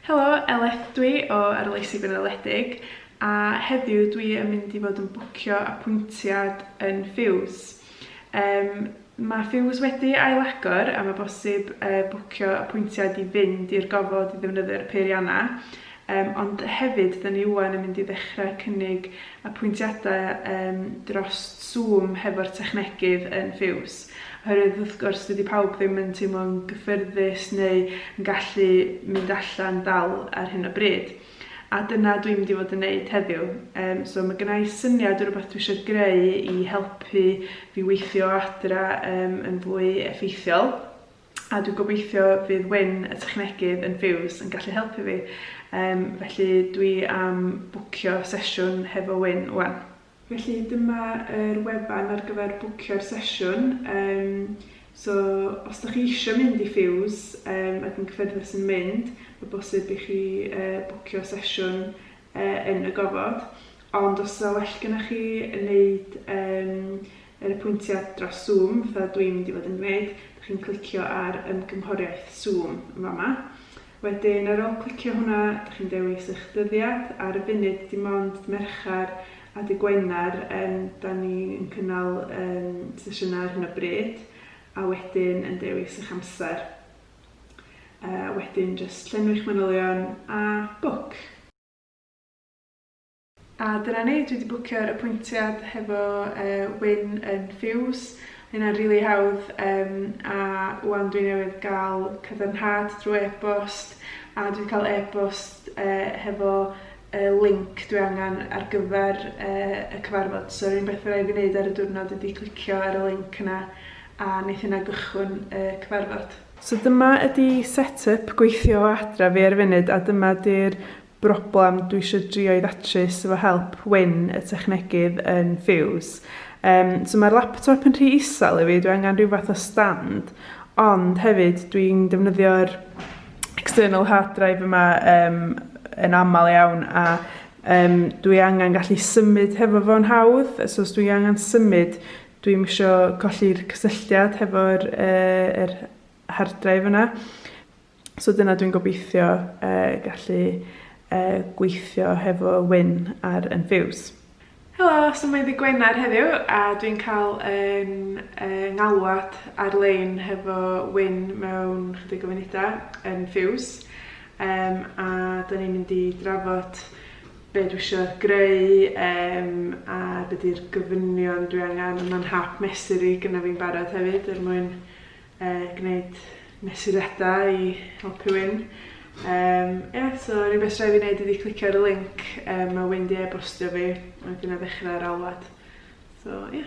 Helo, Eleth dwi o Arloesi Gwynoledig a heddiw dwi yn mynd i fod yn bwcio apwyntiad yn Fuse. Um, mae Fuse wedi ailagor a mae bosib uh, bwcio apwyntiad i fynd i'r gofod i ddefnyddio'r peiriannau. Um, ond hefyd, dyn ni wwan yn mynd i ddechrau cynnig apwyntiadau um, dros Zoom hefo'r technegydd yn Fuse. Oherwydd wrth gwrs dydi pawb ddim yn teimlo'n gyffyrddus neu yn gallu mynd allan dal ar hyn o bryd. A dyna dwi'n mynd i fod yn neud heddiw. Um, so mae gennau syniad o rhywbeth dwi eisiau greu i helpu fi weithio adra um, yn fwy effeithiol. A dwi'n gobeithio fydd Wyn y technegydd yn Fuse yn gallu helpu fi. Um, felly dwi am bwcio sesiwn hefo Wyn wan. Felly dyma yr wefan ar gyfer bwcio'r sesiwn, yym so os dach chi isio mynd i Fuse yym ac yn cyffyrddus yn mynd, ma' bosib i chi yy bwcio sesiwn yy yn y gofod, ond os sa well gynnoch chi neud yym yr apwyntiad dros Zoom fatha dwi'n mynd i fod yn gneud, dach chi'n clicio ar ymgynghoriaeth Zoom yn fama. Wedyn ar ôl clicio hwnna, dych chi'n dewis eich dyddiad, ar y funud dim ond dydd Mercher a dydd Gwener yym 'da ni yn cynnal yym sesiynau ar hyn o bryd, a wedyn yn dewis eich amser. Yy wedyn jyst llenwi'ch manylion a book. A dyna ni, dwi 'di bwcio'r apwyntiad hefo yy Wyn yn Fuse, ma' hynna'n rili hawdd yym a 'wan dwi newydd ga'l cadarnhad drw e-bost a dwi 'di ca'l e-bost yy hefo y linc dwi angan ar gyfer yy y cyfarfod so yr unig beth ma' raid fi neud ar y diwrnod ydi clicio ar y linc yna a neith hynna gychwyn y cyfarfod. So dyma ydi set-yp gweithio o adra fi ar y funud a dyma 'di'r broblem dwi isio drio'i ddatrys efo help Wyn y technegydd yn Fuse. Yym so mae'r laptop yn rhy isel i fi, dwi angen rhyw fath o stand ond hefyd dwi'n defnyddio'r external hard drive yma um, yn aml iawn a um, dwi angen gallu symud hefo fo'n hawdd so os dwi angen symud dwi'n misio colli'r cysylltiad hefo'r uh, er hard drive yna So dyna dwi'n gobeithio uh, gallu uh, gweithio hefo Wyn ar Enfuse. Helo, so mae ddi Gwener heddiw a dwi'n cael yn uh, ngalwad ar-lein hefo Wyn mewn chydig o funudau yn Fuse um, a da ni'n mynd i drafod be dwi eisiau greu um, a be di'r gofynion dwi angen, a mae'n hap mesur i gyda fi'n barod hefyd er mwyn gwneud mesuriadau i helpu Wyn. Yym, ie, so yr unig beth sy raid fi wneud ydi clicio ar y linc yym ma' Wyn 'di e-bostio fi, a wedyn 'na ddechrau'r alwad. So, ie.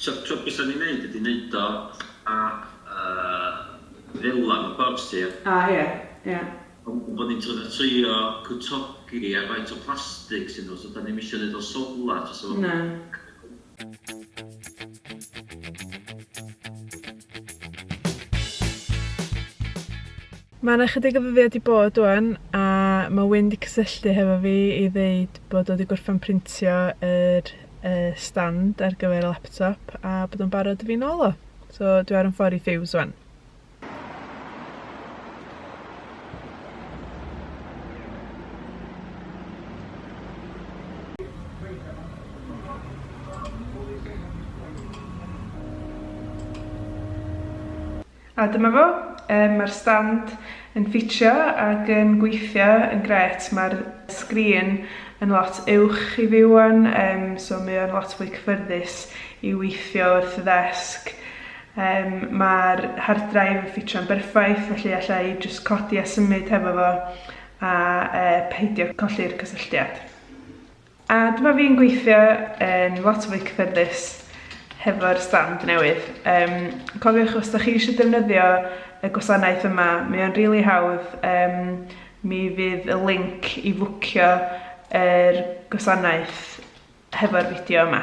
Tro tro bysa ni'n neud ydi neud o fatha yy fela mewn pubs ti ia? A ia ia. Ond bo' ni'n trio fatha trio cwtogi ar faint o plastic sy nhw so dan ni'm isio neud o'n solar jyst efo... Na. Ma' 'na chydig o ddyddia' 'di bod ŵan, a ma' Wyn 'di cysylltu hefo fi i ddeud bod o 'di gorffan printio yr yy stand ar gyfer y laptop, a bod o'n barod i fi nôl o. So, dwi ar 'yn ffor i Thews ŵan. A dyma fo, yym ma'r stand yn ffitio ag yn gweithio yn grêt, ma'r sgrin yn lot uwch i fi ŵan yym so mae o'n lot fwy cyffyrddus i weithio wrth y ddesg. Yym ma'r hard drive yn ffitio'n berffaith felly alla i jyst codi a symud hefo fo a yy peidio colli'r cysylltiad. A dyma fi'n gweithio yn lot fwy cyffyrddus hefo'r stand newydd. Yym cofiwch os 'dach chi eisiau defnyddio y gwasanaeth yma, mae o'n rili hawdd, yym mi fydd y linc i fwcio yr gwasanaeth hefo'r fideo yma.